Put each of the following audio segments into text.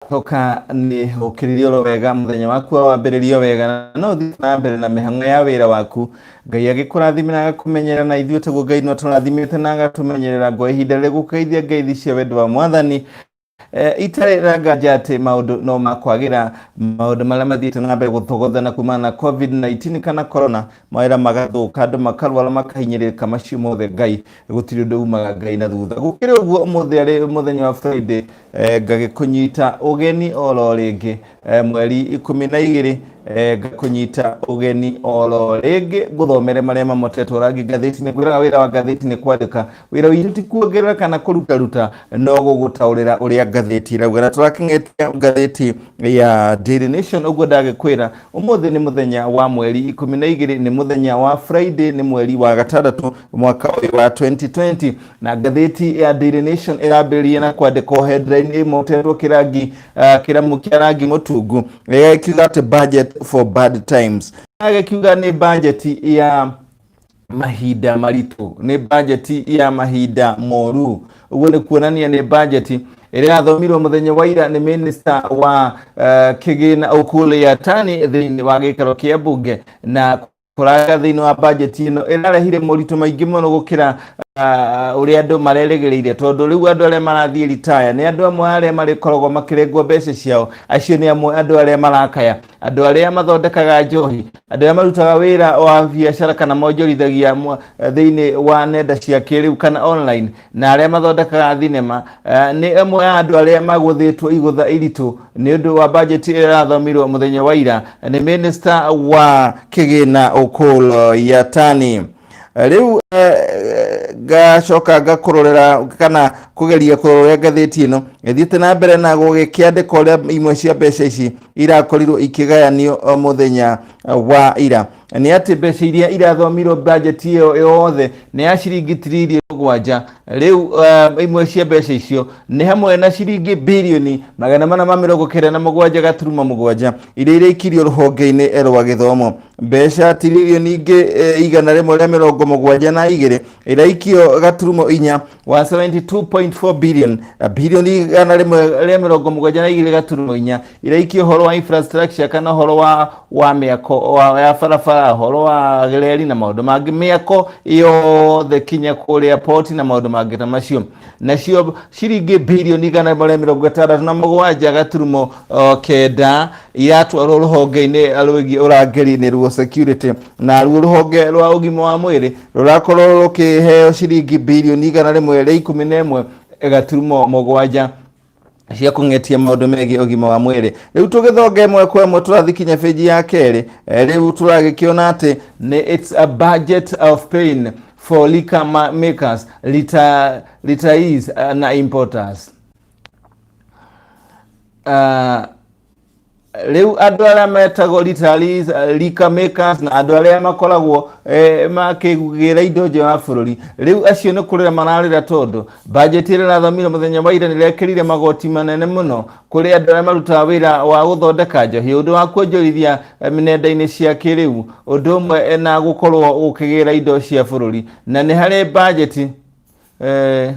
Coka nĩ ũkĩrĩrie oro wega mũthenya waku wa wambĩrĩrio wega na no ũthiĩ na mbere na mĩhang'o ya wĩra waku ngai agĩkũrathime na agakũmenyerera na ithuĩ taguo ngai nĩ atũrathimĩte na agatũmenyerera ngo ihinda rĩrĩ gũkũgeithia ngeithi cia wendo wa mwathani Eh, itarĩ na nganja atĩ maũndũ no makwagĩra maũndũ marĩa mathiĩte na mbere gũthogothana kumana na covid-19 kana corona mawĩra magathũka andũ makarwara makahinyĩrĩrĩka macio mothe ngai gũtirĩ ũndũ umaga ngai na thutha gũkĩrĩ ũguo ũmũthĩ arĩ mũthenya wa friday eh, ngagĩkũnyita ũgeni oro rĩngĩ eh, mweri ikũmi na igĩrĩ eh, ngakũnyita ũgeni oro rĩngĩ ngũthomere marĩa mamotetwo rangi ngathĩti-inĩ ngwĩraga wĩra wa ngathĩti nĩ kwandĩka wĩra witũ ti kuongerera kana kũrutaruta no gũgũtaũrĩra ũrĩa ngathĩti ĩrauga na tũrakĩng'etia ngathĩti ya Daily Nation ũguo ndagĩkwĩra ũmũthĩ nĩ mũthenya wa mweri ikũmi na igĩrĩ nĩ mũthenya wa Friday nĩ mweri wa gatandatũ mwaka ũyũ wa 2020 na ngathĩti ya Daily Nation ĩrambĩrĩria na kwandĩkwo headline ĩmotetwo kĩrangi uh, kĩramu kĩa rangi mũtungu ĩgakiuga atĩ budget for bad times agakiuga nĩ bajeti ya mahinda maritũ nĩ bajeti ya mahinda moru ũguo nĩ kuonania nĩ bajeti ĩrĩa yathomirwo mũthenya wa ira nĩ minista wa uh, kĩgĩna Ukuli Yatani thĩinĩ wa gĩikaro kĩa mbunge na kũraga thĩinĩ wa bajeti ĩno ĩrarehire moritũ maingĩ mũno gũkĩra ah, ũrĩa andũ marerĩgĩrĩire tondũ rĩu andũ arĩa marathiĩ ritaya nĩ andũ amwe arĩa marĩkoragwo makĩrengwo mbeca ciao acio nĩ amwe andũ arĩa marakaya andũ arĩa mathondekaga njohi andũ arĩa marutaga wĩra wa biacara kana monjorithagia mwa- thĩinĩ wa nenda cia kĩrĩu kana online na arĩa mathondekaga thinema eh, nĩ ĩmwe ya andũ arĩa magũthĩtwo igũtha iritũ nĩ ũndũ wa bajeti ĩrĩa ĩrathomirwo mũthenya wa ira nĩ mĩnĩsta wa kĩgĩna Ũkũlũ Yatani rĩu eh, ngacoka ngakũrorera kana kũgeria kũrorera ngathĩti ĩno ĩthiĩte na mbere na gũgĩkĩandĩka ũrĩa imwe cia mbeca ici irakorirwo ikĩgayanio eh, mũthenya wa ira nĩ atĩ mbeca iria irathomirwo bajeti ĩyo yothe nĩ ya ciringi tiririoni mũgwanja rĩu uh, imwe cia mbeca icio nĩ hamwe na ciringi birioni magana mana ma mĩrongo kenda na mũgwanja gaturuma mũgwanja iria irĩkirio rũhonge-inĩ rwa gĩthomo mbeca tiririoni ingĩ eh, igana rĩmwe rĩa mĩrongo mũgwanja na igĩrĩ iraikio gaturumo inya wa 72.4 billion na birioni igana rĩmwe rĩa mĩrongo mũgwanja na igĩrĩ gaturumo inya iraikia ũhoro wa infrastructure kana ũhoro wa wa mĩako wa ya barabara ũhoro wa reri na maũndũ mangĩ mĩako yothe kinya kũrĩa poti na maũndũ mangĩ ta macio nacio ciringi birioni igana rĩmwe rĩa mĩrongo ĩtandatũ na mũgwanja gaturumo o, kenda iratwarwo rũhonge-inĩ rwĩgiĩ ũrangĩri-inĩ ruo security na ruo rũhonge rwa ũgima wa mwĩrĩ rũrakorwo rũkĩheo ciringi birioni igana rĩmwe rĩa ikũmi na ĩmwe gaturumo mũgwanja cia kũng'etia maũndũ megiĩ ũgima wa mwĩrĩ rĩu tũgĩthonga ĩmwe kwa ĩmwe tũrathiĩ kinya bĩnji ya kerĩ eh, rĩu tũragĩkĩona atĩ nĩ its a budget of pain for liquor ma- makers rita- retirees eh, na importers uh, rĩu andũ arĩa metagwo retirees, eh, rika makers na andũ arĩa makoragwo eh, makĩgĩra indo nja wa bũrũri rĩu acio nĩ kũrĩra mararĩra tondũ bajeti ĩrĩa ĩrathomire mũthenya wa ira nĩrekĩrire magoti manene mũno kũrĩ andũ arĩa marutaga wĩra wa gũthondeka njohi ũndũ wa kuonjorithia eh, nenda-inĩ cia kĩrĩu ũndũ ũmwe eh, na gũkorwo gũkĩgĩra indo cia bũrũri na nĩ harĩ bajeti eh,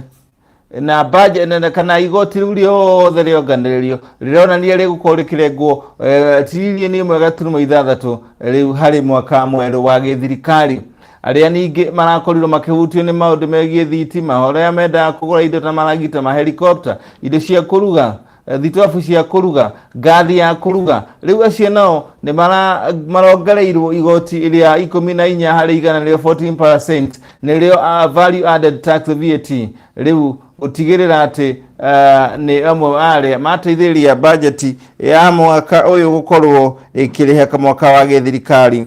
na budget na- na- kana igoti riu riothe rionganĩrĩrio rĩronania rĩgũkorwo rĩkĩrengwo eh, tiririoni ĩmwe gaturumo ithathatũ rĩu harĩ mwaka mwerũ wa gĩthirikari arĩa ningĩ marakorirwo makĩhutio nĩ maũndũ megiĩ thitima arĩa mendaga kũgũra indo ta maragita mahelikopta indo cia kũruga Eh, thitobu cia kũruga ngathi ya kũruga rĩu acio nao nĩ mara- marongereirwo igoti rĩa ikũmi na inya harĩ igana rĩo 14 nĩrĩo uh, value added tax VAT rĩu gũtigĩrĩra atĩ uh, nĩ amwe arĩa mateithĩrĩria bajeti ya mwaka ũyũ gũkorwo ĩkĩrĩha mwaka wa gĩthirikari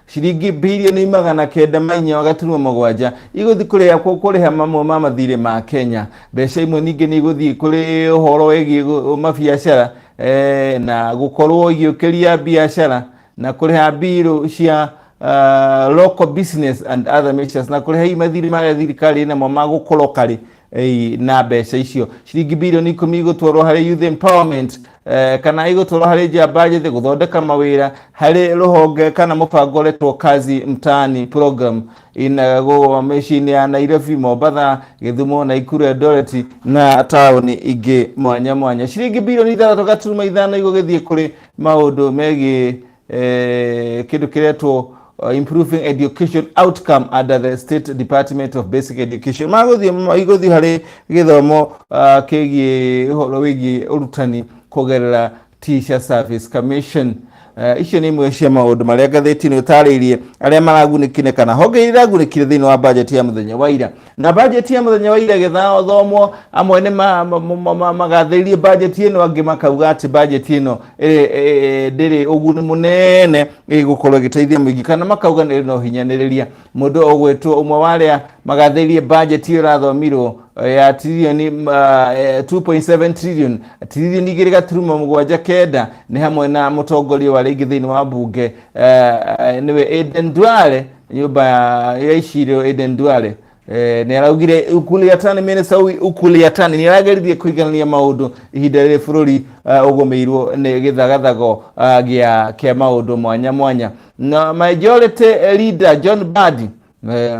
ciringi birioni magana kenda ma inya wa gaturumo mũgwanja igũthiĩ kũrĩhakwo kũrĩha mamwe ma mathirĩ ma Kenya. Mbeca imwe ningĩ nĩ igũthiĩ kũrĩ ũhoro wĩgiĩ gũ- mabiacara eh, na gũkorwo igĩũkĩria biacara na kũrĩha mbirũ cia ah, local business and other measures na kũrĩha hihi mathirĩ marĩa thirikari ĩnamo ma gũkorwo karĩ Ei, na mbeca icio ciringi bilioni ikũmi igũtwarwo harĩ youth empowerment eh, kana igũtwarwo harĩ njamba njĩthĩ gũthondeka mawĩra harĩ rũhonge kana mũbango ũretwo kazi mtaani program inagwo mĩciĩ-inĩ ya nairobi mombatha gĩthumo naikuru eldoret na taũni ingĩ mwanya mwanya ciringi bilioni ithathatũ gaturuma ithano igũgĩthiĩ kũrĩ maũndũ megiĩ eh, kĩndũ kĩretwo uh, improving education outcome under the state department of basic education magũthiĩ magũthiĩ harĩ gĩthomo uh, kĩgiĩ ũhoro wĩgiĩ ũrutani kũgerera teacher service commission Eh, icio nĩ imwe cia maũndũ marĩa ngathĩti-inĩ ũtarĩirie arĩa maragunĩkire kana honge iria iragunĩkire thĩinĩ wa bajeti ya mũthenya wa ira na bajeti ya muthenya wa ira gĩthathomwo amwe nĩ ma- ma- ma- ma- magathĩrĩrie bajeti ĩno angĩ makauga atĩ bajeti ĩno ĩ- ĩ- ndĩrĩ ũguni mũnene ĩgũkorwo ĩgĩteithia mũingĩ kana makauga nĩ no hinyanĩrĩria mũndũ ũgwĩtwo ũmwe wa arĩa magathĩrĩrie bajeti ĩyo ĩrathomirwo eh, ya tririoni ma- eh, 2.7 trillion tiririoni igĩrĩ gaturuma mũgwanja kenda nĩ hamwe na mũtongoria wa rĩngĩ thĩinĩ wa mbunge eh, eh, nĩwe Aden Duale nyũmba ya ya icirĩro Eden Duale eh, nĩ araugire Ukuliatani minista ũyũ Ukuliatani nĩ arageririe kũiganania maũndũ ihinda rĩrĩ bũrũri eh, ũgũmĩirwo nĩ gĩthagathago eh, gĩa kĩa maũndũ mwanya mwanya na majority leader John Badi eh,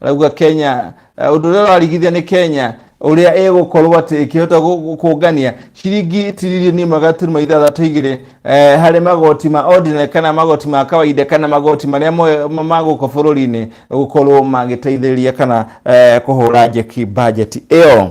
arauga kenya eh, ũndũ ũrĩa ũrarigithia nĩ kenya ũrĩa ĩgũkorwo atĩ ĩkĩhota gũ- gũ- kũngania ciringi tiririoni ĩmwe gaturuma ithathatũ igĩrĩ eh, harĩ magoti ma ordinary kana magoti ma kawaida kana magoti marĩa moe- ma- ma gũkũ bũrũri-inĩ gũkorwo magĩteithĩrĩria kana eh, kũhũra njeki bajeti ĩyo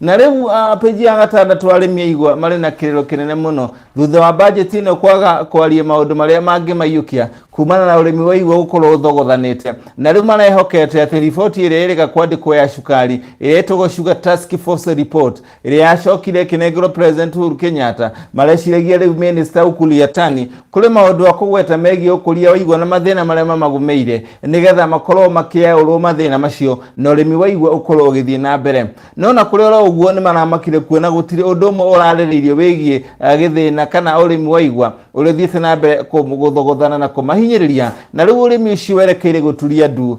na rĩu ah, peji ya gatandatũ arĩmi aigua marĩ na kĩrĩro kĩnene mũno thutha wa bajeti ĩno kwaga kwaria maũndũ marĩa mangĩmaiyũkia kumana na ũrĩmi wa igwa gũkorwo ũthogothanĩte na rĩu marehokete atĩ riboti ĩrĩa ĩrĩga kwandĩkwo ya cukari ĩrĩa ĩtagwo sugar task force report ĩrĩa yacokire ĩkĩnengerwo president Uhuru Kenyatta mareciragia rĩu minister Ukuli Yatani Kũrĩ maũndũ a kũgweta megiĩ ũkũria wa igwa na mathĩna marĩa mamagũmĩire. Nĩ getha makorwo makĩaũrwo mathĩna macio na ũrĩmi wa igwa ũkorwo ũgĩthiĩ na mbere. No ona kũrĩ oro ũguo nĩ maramakire kuona gũtirĩ ũndũ ũmwe ũrarĩrĩirio wĩgiĩ gĩthĩna kana ũrĩmi wa igwa ũrĩa ũthiĩte na mbere gũthogothana na kũmahinyĩrĩria na rĩu ũrĩmi ũcio werekeire gũturia ndu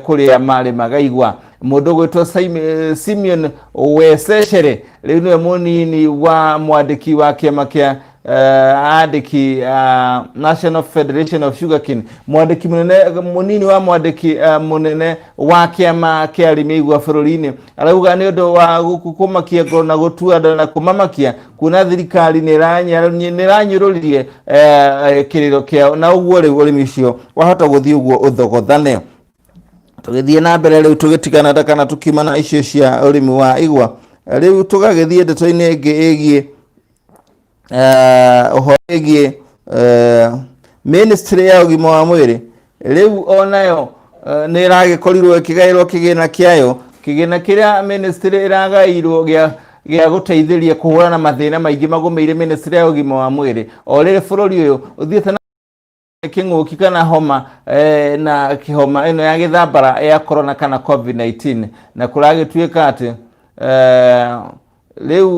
kũrĩa marĩmaga igwa. Mũndũ ũgwĩtwo Simeon Weseshere rĩu nĩwe mũnini wa mwandĩki wa kĩama kĩa andĩki uh, National Federation of Sugarcane mwandĩki munene munini wa mwandĩki uh, munene wa kĩama kĩa arĩmi a igwa bũrũri-inĩ arauga nĩ ũndũ wa gũku- kũmakia ngoro na gũtua nda na kũmamakia kuona thirikari nĩ ĩranya- nĩ ĩranyũrũririe eh, eh, kĩrĩro kĩao na ũguo rĩu ũrĩmi ũcio wahota gũthiĩ ũguo ũthogothane tũgĩthiĩ na mbere rĩu tũgĩtigana nda kana tũkiuma na icio cia ũrĩmi wa igwa rĩu tũgagĩthiĩ ndeto-inĩ ĩngĩ ĩgiĩ ũhoro wĩgiĩ ministry ya ũgima wa mwĩrĩ rĩu onayo nĩ ĩragĩkorirwo ĩkĩgaĩrwo kĩgĩna kĩayo kĩgĩna kĩrĩa ministry ĩragaĩirwo gĩa gĩa gũteithĩria kũhũrana mathĩna maingĩ magũmĩire ministry ya ũgima wa mwĩrĩ o rĩrĩ bũrũri ũyũ ũthiĩte na kĩng'ũki kana homa eh, na kĩhoma ĩno ya gĩthambara ya corona kana covid-19 na kũragĩtuĩka atĩ eh, rĩu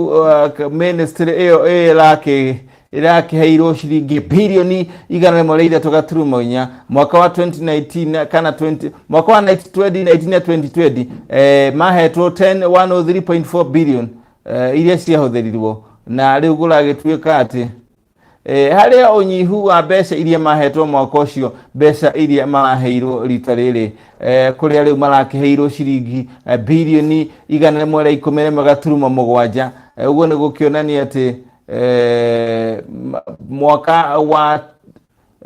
uh, ministry ĩyo ĩrakĩ ĩrakĩheirwo ciringi bilioni igana rĩmwe rĩa ithatũ gaturumo inya mwaka wa 2019 kana 20, mwaka wa 2019 na 2020 eh, mahetwo 10 103.4 billion eh, iria ciahũthĩrirwo na rĩu gũragĩtuĩka atĩ e, harĩ ũnyihu wa mbeca iria mahetwo mwaka ũcio mbeca iria maraheirwo rita rĩrĩ e, kũrĩa rĩu marakĩheirwo ciringi e, birioni igana rĩmwe rĩa ikũmi rĩmwe gaturuma mũgwanja E, ũguo nĩ gũkĩonania atĩ e, ma- mwaka wa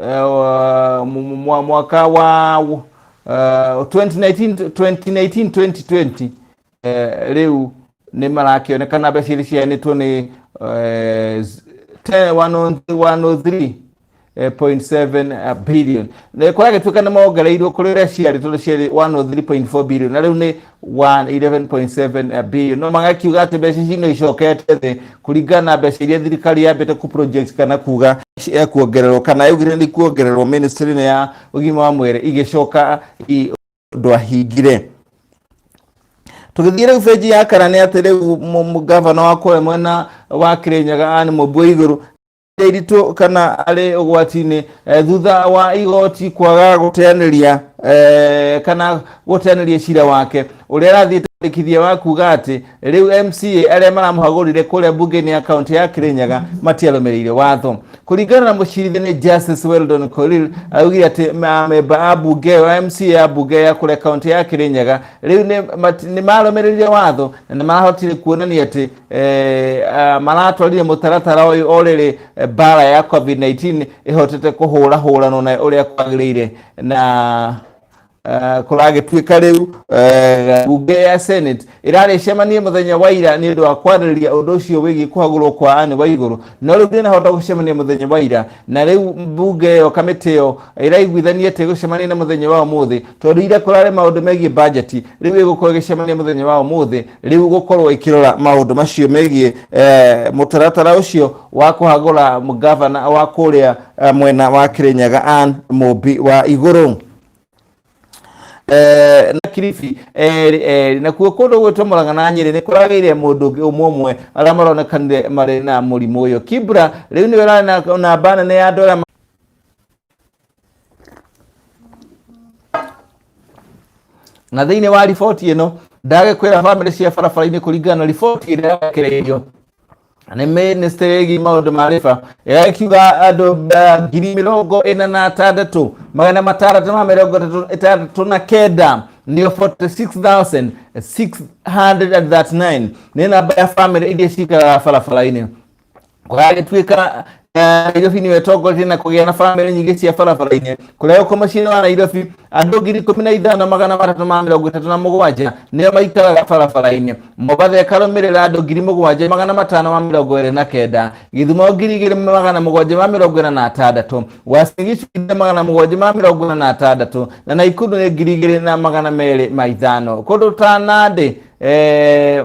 eh, wa- mu- mu- mwa- mwaka wa eh, 2019 2019 2020 rĩu nĩ marakĩonekana mbeca iria ciheanĩtwo nĩ eh, z- 10 103.7 billion Na kũrĩa gĩtuĩka nĩ mongereirwo kũrĩ ũrĩa ciarĩ tondũ ciarĩ 103.4 billion na rĩu nĩ 111.7 billion no magakiuga atĩ mbeca ici no icokete thĩ kũringana na mbeca iria thirikari yambĩte ku project kana kuga cia kuongererwo kana yaugire nĩ kuongererwo ministry-inĩ ya ũgima wa mwĩrĩ igĩcoka i- ndwahingire tũgĩthiĩ rĩu benji ya kana nĩ atĩ rĩu mũ- mũ- gavana wa kũrĩa mwena wa kĩrĩnyaga anĩ mũmbua igũrũ iritũ kana arĩ ũgwati-inĩ eh, thutha wa igoti kwaga gũteanĩria eh, kana gũteanĩria cira wake ũrĩa arathiĩ tarĩkithia wa kuga atĩ Rĩu MCA arĩa maramũhagũrire kũrĩa mbunge-inĩ ya kaunti ya Kĩrĩnyaga matiarũmĩrĩire watho. Kũringana na mũcirithania Justice Weldon Korir, augire atĩ ma- amemba a mbunge ĩyo ya MCA ya mbunge ya kũrĩa kaunti ya Kĩrĩnyaga rĩu nĩ mati- nĩ marũmĩrĩire watho na nĩ marahotire kuonania atĩ eh, ah, maratwarire mũtaratara ũyũ o rĩrĩ eh, mbara ya COVID-19 ĩhotete kũhũra hũranwo na ũrĩa kwagĩrĩire na eh, kũragĩtuĩka rĩu eh, bunge ya senate ĩrarĩcemanie mũthenya wa ira nĩ ũndũ wa kwarĩrĩria ũndũ ũcio wĩgiĩ kũhagũrwo kwa anĩ wa igũrũ no rĩu ndĩnahota gũcemania mũthenya wa ira na rĩu bunge ĩyo kamĩtĩ ĩyo ĩraiguithania atĩ gũcemania na mũthenya wa ũmũthĩ tondũ ira kũrarĩ maũndũ megiĩ bajeti rĩu ĩgũkorwo ĩgĩcemania mũthenya wa ũmũthĩ rĩu gũkorwo ĩkĩrora maũndũ macio megiĩ eh, mũtaratara ũcio wa kũhagũra gavana wa kũrĩa eh, mwena wa kĩrĩnyaga an mũmbi wa igũrũ Eh, na kiribi eh, eh, nakuo kundu gwitwo muraga na nyiri ni kurageire mundu ungi umwe umwe aria maronekanire mari na murimu uyu kibra riu ni wera na na bana ni andu aria na thĩinĩ wa riboti ĩno ndagĩkwĩra bamĩrĩ cia barabara-inĩ kũringana na riboti ĩrĩa yarekereirio nĩ mĩnĩstĩ ĩgiĩ maũndũ ma rĩba ĩrĩa ĩkiuga andũ eh, ngiri mĩrongo ĩna na atandatũ magana matandatũ ma mĩrongo ĩtatũ- ĩtandatũ na kenda nĩyo 46639 nĩ namba ya bamĩrĩ iria cikaraga barabara-inĩ kũragĩtuĩka Nairobi nĩwe tongoretie na kũgĩa na bamĩrĩ nyingĩ cia barabara-inĩ kũrĩa gũkũ mũciĩ wa Nairobi andũ ngiri ikũmi na ithano magana matatũ ma mĩrongo ĩtatũ na mũgwanja nĩo maikaraga barabara-inĩ Mobatha ĩkarũmĩrĩra andũ ngiri mũgwanja magana matano ma mĩrongo ĩrĩ na kenda Gĩthumo ngiri igĩrĩ magana mũgwanja ma mĩrongo ĩna na atandatũ Uasin Gishu ngiri magana mũgwanja ma mĩrongo ĩna na atandatũ na Naikuru nĩ ngiri igĩrĩ na magana merĩ ma ithano kũndũ ta Nandi eh,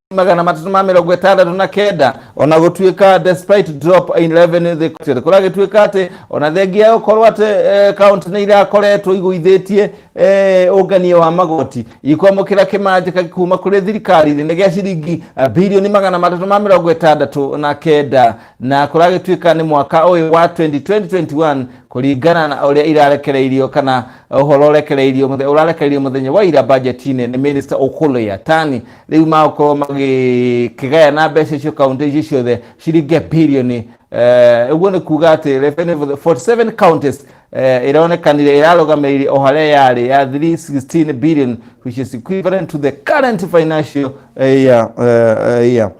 magana matatũ ma mĩrongo ĩtandatũ na kenda ona gũtuĩka despite drop in revenue they collected kũragĩtuĩka atĩ ona thengia ya gũkorwo atĩ eh, kaunti nĩ irakoretwo igũithĩtie eh, ũngania wa magoti ikwamũkĩra kĩmanjĩka kuma kũrĩ thirikari nĩ gĩa ciringi eh, birioni magana matatũ ma mĩrongo ĩtandatũ na kenda na kũragĩtuĩka nĩ mwaka ũyũ wa 2021 kũringana na ũrĩa irarekereirio kana ũhoro ũrekereirio mũthe- ũrarekereirio mũthenya wa ira bajeti-inĩ nĩ minista ũkũlũ ya tani rĩu magũkorwo magĩkĩgayana mbeca icio kaunti icio ciothe ciringe birioni eh, ũguo nĩ kuga atĩ revenue for the 47 counties eh, ĩronekanire ĩrarũgamĩrĩire o harĩa yarĩ ya 316 billion which is equivalent to the current financial eh, year, eh, eh, year.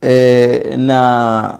Eh, na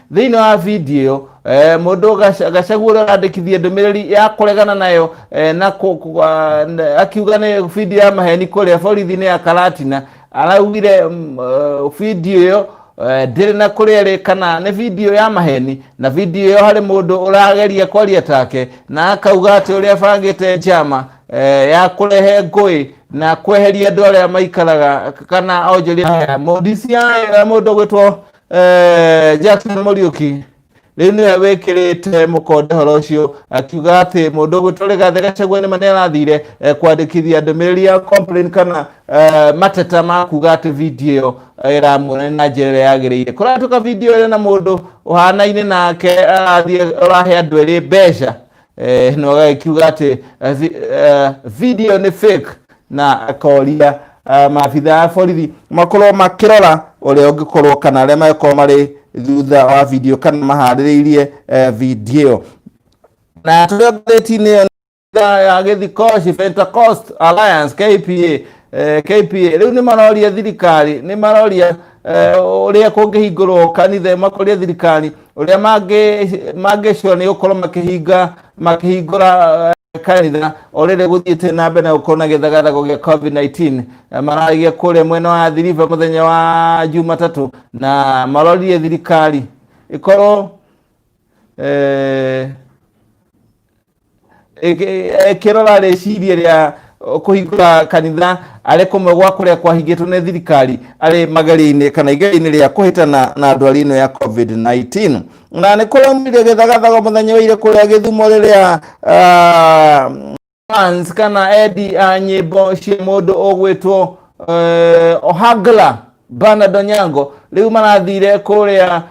thĩinĩ wa video ĩyo eh, mũndũ gaca- gacagua ũrĩa ũrandĩkithia ndũmĩrĩri ya kũregana nayo eh, na kũ- kũ- ah, na- akiuga nĩ video ya maheni kũrĩa borithi-inĩ ya karatina araugire mm, eh, video ĩyo eh, ndĩrĩ na kũrĩa ĩrĩ kana nĩ video ya maheni na video ĩyo harĩ mũndũ ũrageria kwaria take na akauga atĩ ũrĩa abangĩte njama eh, ya kũrehe ngũĩ na kweheria andũ arĩa maikaraga kana onjoria haya mũndũ ũcio, eh, mũndũ gwĩtwo Eh, Jackson Muriuki rĩu nĩwe wĩkĩrĩte mũkonde horo ũcio akiuga atĩ mũndũ ũgwĩtwo Rigathĩ Gachagua nĩma nĩ arathire eh, kwandĩkithia ndũmĩrĩri ya complain kana eh, mateta ma kuga atĩ video ĩyo eh, ĩramuonania na njĩra ĩrĩa yagĩrĩire kũratuka video ĩrĩ na mũndũ ũhanaine nake arathiĩ ũrahe andũ erĩ mbeca eh, no gagĩkiuga atĩ eh, vi, eh, video nĩ fake na akoria eh, maabitha a borithi makorwo makĩrora ũrĩa ũngĩkorwo kana arĩa magĩkorwo marĩ thutha wa video kana maharĩrĩirie eh, video na tũrĩa ngathĩti-inĩ ĩyo nĩ ya gĩthikoci Pentecost Alliance KPA eh, KPA rĩu nĩ maroria thirikari nĩ maroria eh, ũrĩa kũngĩhingũrwo kanitha makoria thirikari ũrĩa mangĩ- mangĩcua nĩ gũkorwo makĩhinga makĩhingũra eh, kanitha o rĩrĩ gũthiĩte na mbere na gũkorwo na gĩthagathago gĩa covid-19 Eh, mararagia kũrĩa mwena wa thiriva mũthenya wa jumatatũ na marorire thirikari ĩkorwo eh, ekirora rĩciria rĩa kũhingũra kanitha arĩ kũmwe gwa kũrĩa kwahingĩtwo nĩ thirikari arĩ mageri-inĩ kana igeri-inĩ rĩa kũhĩtana na ndwari ĩno ya covid-19 na nĩ kũramire gĩthagathago mũthenya wa ire kũrĩa gĩthumo rĩrĩa ah, fans kana endi a nyĩmbo cia mũndũ ũgwĩtwo eh, ohangla banado nyango rĩu marathire kũrĩa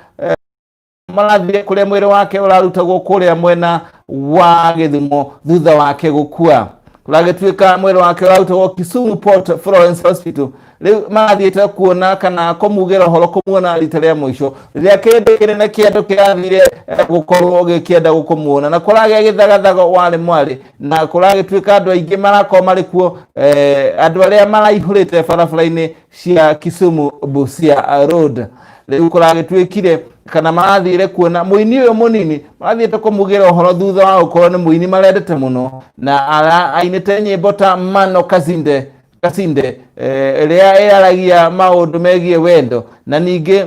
marathire kũrĩa mwĩrĩ wake ũrarutagwo kũrĩa mwena wa gĩthimo thutha wake gũkua ũragĩtuĩka mwĩrĩ wake ũrarutagwo kisumu port florence hospital rĩu marathiĩte kuona kana kũmugĩra ũhoro kũmuona rita rĩa mũico rĩrĩa kĩndũ kĩnene kĩa andũ kĩrathire eh, gũkorwo gĩkĩenda gũkũmuona na kũragĩa gĩthagathaga warĩ mwarĩ na kũragĩtuĩka andũ aingĩ marakorwo marĩ kuo eh, andũ arĩa maraihũrĩte barabara-inĩ cia Kisumu Busia Road rĩu kũragĩtuĩkire kana marathire kuona mũini ũyũ mũnini marathiĩte kũmugĩra ũhoro thutha wa gũkorwo nĩ mũini marendete mũno na ara- ainĩte nyĩmbo ta mano kazinde kasinde eh, ĩrĩa ĩraragia maũndũ megiĩ wendo na ningĩ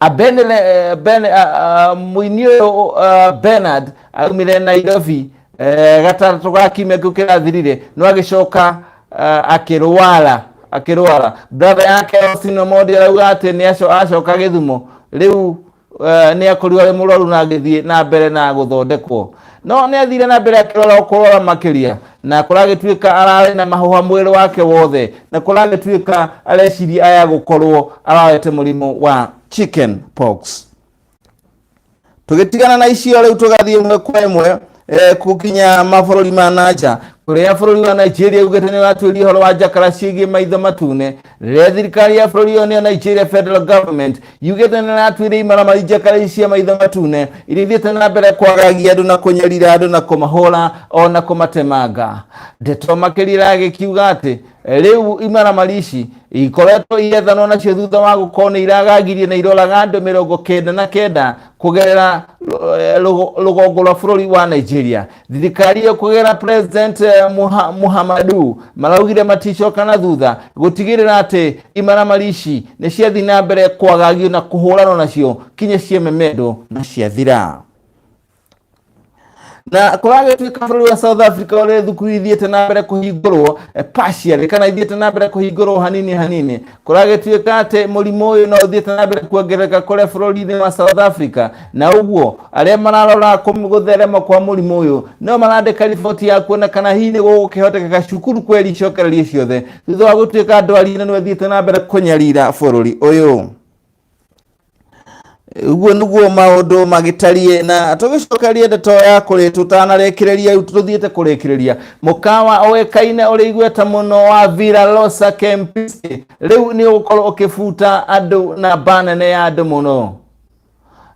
Abenele, eh, ben, ah, ah, mũini ũyũ ah, Bernard aumire Nairobi eh, gatatũ ga kiumia kĩu kĩrathirire no agĩcoka ah, akĩrwara akĩrwara brother yake Austin Omondi arauga atĩ nĩ aco- acoka gĩthumo rĩu eh, nĩ akorirwo arĩ mũrwaru na agĩthiĩ na mbere na gũthondekwo no nĩ athire na mbere akĩrora kũrora makĩria na kũragĩtuĩka ararĩ na mahũha mwĩrĩ wake wothe na kũragĩtuĩka areciria aya gũkorwo ararete mũrimũ wa chicken pox tũgĩtigana na icio rĩu tũgathiĩ ĩmwe kwa ĩmwe eh, gũkinya mabũrũri ma nanja kũrĩa bũrũri wa nigeria ugĩte nĩ ũratuĩria ũhoro wa njakara ciĩgiĩ maitho matune rĩrĩa thirikari ya bũrũri ũyũ nĩyo nigeria federal government yugĩte nĩ ĩratuĩria imaramari njekare cia maitho matune iria ithiĩte na mbere kwagagia andũ na kũnyarira andũ na kũmahũra o na kũmatemanga ndeto makĩria iragĩkiuga atĩ rĩu imaramari ici ikoretwo igethanwo nacio thutha wa gũkorwo nĩ iragagirie na iroraga andũ mĩrongo kenda na kenda kũgerera eh, rũgo- rũgongo rwa bũrũri wa nigeria thirikari ĩyo kũgerera president eh, Muha- muhammadu maraugire maticoka na thutha gũtigĩrĩra atĩ imaramari ici nĩ ciathiĩ na mbere kwagagio na kũhũranwo nacio kinya ciememendwo na ciathira na kũragĩtuĩka bũrũri wa south africa ũrĩ thukuru ithiĩte na mbere kũhingũrwo eh, partially kana ithiĩte na mbere kũhingũrwo hanini hanini kũragĩtuĩka atĩ mũrimũ ũyũ no ũthiĩte na mbere kuongerereka kũrĩa bũrũri-inĩ wa south africa na ũguo arĩa mararora kũm- gũtherema kwa mũrimũ ũyũ no marandĩka riboti ya kuona kana hihi nĩ gũgũkĩhotekeka cukuru kweri icokererie ciothe thutha wa gũtuĩka ndwari ĩno nĩ ĩthiĩte na mbere kũnyarira bũrũri ũyũ ũguo nĩguo maũndũ magĩtariĩ na tũgĩcokerie ndeto ya kũrĩ tũtanarĩkĩrĩria rĩu tũthiĩte kũrĩkĩrĩria mũkawa ũĩkaine ũrĩ igweta mũno wa Villa Rosa Kempinski rĩu nĩ ũgũkorwo ũkĩbuta andũ na mba nene ya andũ mũno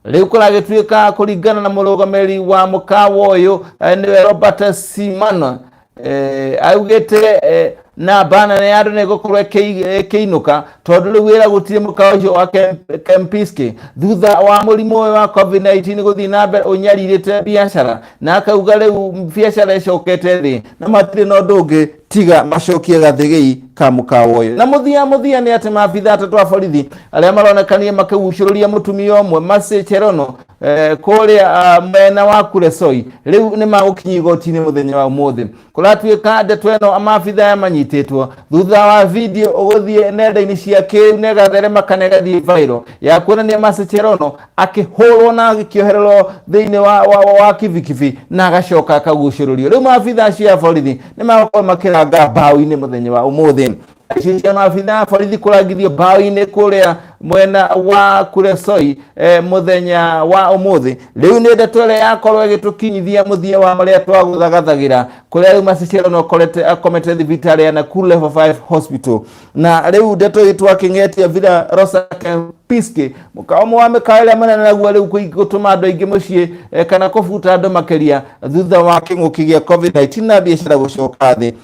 rĩu kũragĩtuĩka kũringana na mũrũgamĩrĩri wa mũkawa ũyũ eh, nĩwe Robert Simon Eh, augĩte eh, na bana nĩ andũ nĩ gũkorwo ĩkĩi- ĩkĩinũka tondũ rĩu wĩra gũtirĩ mũkawa ũcio wa Kem- kempiski thutha wa mũrimũ ũyũ wa covid-19 gũthiĩ na mbere ũnyarirĩte biacara na akauga rĩu biacara ĩcokete thĩ na matirĩ na ũndũ ũngĩ tiga macokie gathĩgĩi ka mũkawa ũyũ na mũthia mũthia nĩ atĩ maabitha atatũ a borithi arĩa maronekanire makĩgucũrũria mũtumia ũmwe Mercy Cherono Eh, kũrĩa ah, mwena wa kuresoi rĩu nĩ magũkinya igoti-inĩ mũthenya wa ũmũthĩ kũratuĩka ndeto ĩno amabitha yamanyitĩtwo thutha wa video ũgũthiĩ nenda-inĩ cia kĩu na ĩgatherema kana ĩgathiĩ viral ya kuonania macecherono akĩhũrwo na agĩkĩohererwo thĩinĩ wa, wa, wa, wa kibikibi na agacoka akagucĩrĩrio rĩu maabitha acio a borithi nĩ magũkorwo makĩranga mbaũ-inĩ mũthenya wa ũmũthĩ ici cia maabitha borithi kũrangithio mbaũ-inĩ kũrĩa mwena wa kuresoi eh, mũthenya wa ũmũthĩ rĩu nĩ ndeto ĩrĩa yakorwo ĩgĩtũkinyithia mũthia wa marĩa twagũthagathagĩra kũrĩa rĩu macicero nokorete akomete thibitarĩ ya Nakuru level 5 hospital na rĩu ndeto ĩtũ akĩng'etia vira rosa piske mũkawa ũmwe wa mĩkawa ĩrĩa manene naguo rĩu kũi- gũtũma andũ aingĩ mũciĩ eh, kana kũbuta andũ makĩria thutha wa kĩng'ũki gĩa covid-19 na biacara gũcoka thĩ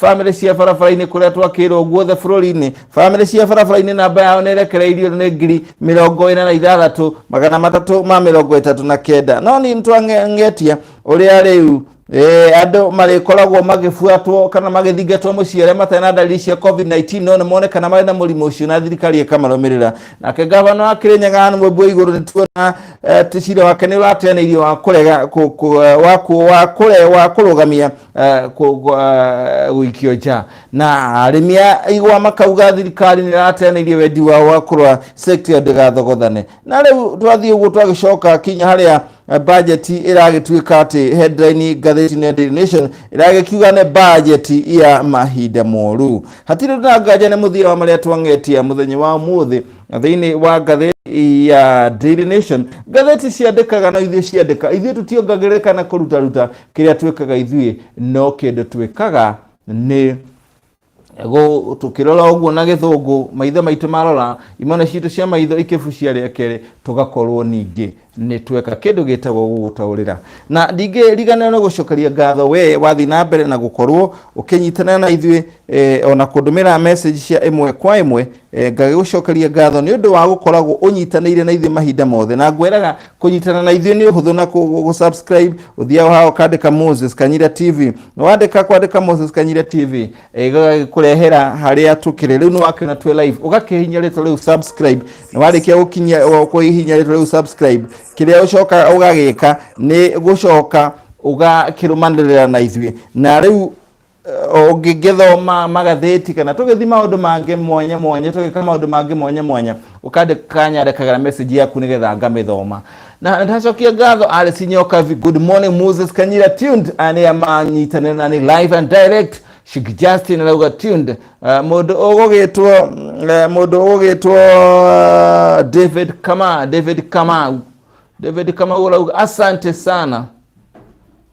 bamĩrĩ cia barabara-inĩ kũrĩa twakĩirwo guothe bũrũri-inĩ bamĩrĩ cia barabara-inĩ namba yao nĩ ĩrekereirio nĩ ngiri mĩrongo ĩna na ithathatũ magana matatũ ma mĩrongo ĩtatũ na kenda no nĩ nĩtwang'etia ũrĩa rĩu Eh, andå marĩkoragwo magĩbuatwo kana magĩthingatwo mũciĩ arĩa matarĩ na ndariri cia covid-19 no nĩ monekana marĩ na mũrimũ ũcio na thirikari ĩkamarũmĩrĩra nake ngavana wa kĩrĩnyaga nĩ mwĩmbu igũrũ nĩ tuona eh, cira wake nĩ ũrateanĩirio wa kũrega kũ- kũ- wa kũ- wa kũre- wa kũrũgamia eh, kũ- kũ- eh, gũikio nja na arĩmi a igwa makauga thirikari nĩ ĩrateanĩirie wendi wao wa kũrora sekta ĩyo ndĩgathogothane na rĩu twathiĩ ũguo twagĩcoka kinya harĩa eh, bajeti ĩragĩtuĩka atĩ headline ngathĩti-inĩ ya Daily Nation ĩragĩkiuga nĩ bajeti ya mahinda moru hatirĩ na nganja nĩ mũthia wa marĩa twang'etia mũthenya wa mũthĩ thĩinĩ wa ngathĩti ya Daily Nation ngathĩti ciandĩkaga na ithuĩ ciandĩka ithuĩ tũtiongagĩrĩka na kũrutaruta kĩrĩa twĩkaga ithuĩ no kĩndũ twĩkaga nĩ gũ- tũkĩrora ũguo na gĩthũngũ maitho maitũ marora imana citũ cia maitho ikĩbucia rĩa kerĩ tũgakorwo ningĩ nĩ tweka kĩndũ gĩtagwo gũgũtaũrĩra na ndingĩriganĩra nĩ gũcokeria ngatho we wathiĩ na mbere na gũkorwo ũkĩnyitanĩra na ithuĩ eh, ona kũndũmĩra message cia ĩmwe kwa ĩmwe Eh, ngagĩgũcokeria ngatho nĩ ũndũ wa gũkoragwo ũnyitanĩire na ithuĩ mahinda mothe na ngwĩraga kũnyitana na ithuĩ nĩ ũhũthũ na kũ- gũ- gũ-subscribe ũthiaga haha ũkandĩka moses kanyira tv wandĩka kwandĩka moses kanyira tv eh, gagagĩkũrehera harĩa tũkĩrĩ rĩu nĩ wakĩona twĩ live ũgakĩhinya rĩtwa rĩu subscribe na warĩkia gũkinyia kũhihinya rĩtwa rĩu subscribe kĩrĩa ũcoka ũgagĩka nĩ gũcoka ũgakĩrũmanĩrĩra na ithuĩ na rĩu ũngĩgĩthoma magathĩti kana tũgĩthi maũndũ mangĩ mwanya mwanya tũgĩka maũndũ mangĩ mwanya mwanya ũkandĩka nyandĩkagĩra message yaku nĩgetha ngamĩthoma na ndacokia ngatho arĩ cinyoka vi good morning moses kanyira tuned anĩa manyitanĩra na nĩ live and direct Sheikh Justin arauga tuned uh, mũndũ ũgũgĩtwo uh, mũndũ ũgũgĩtwo uh, David Kama David Kamau David Kamau arauga asante sana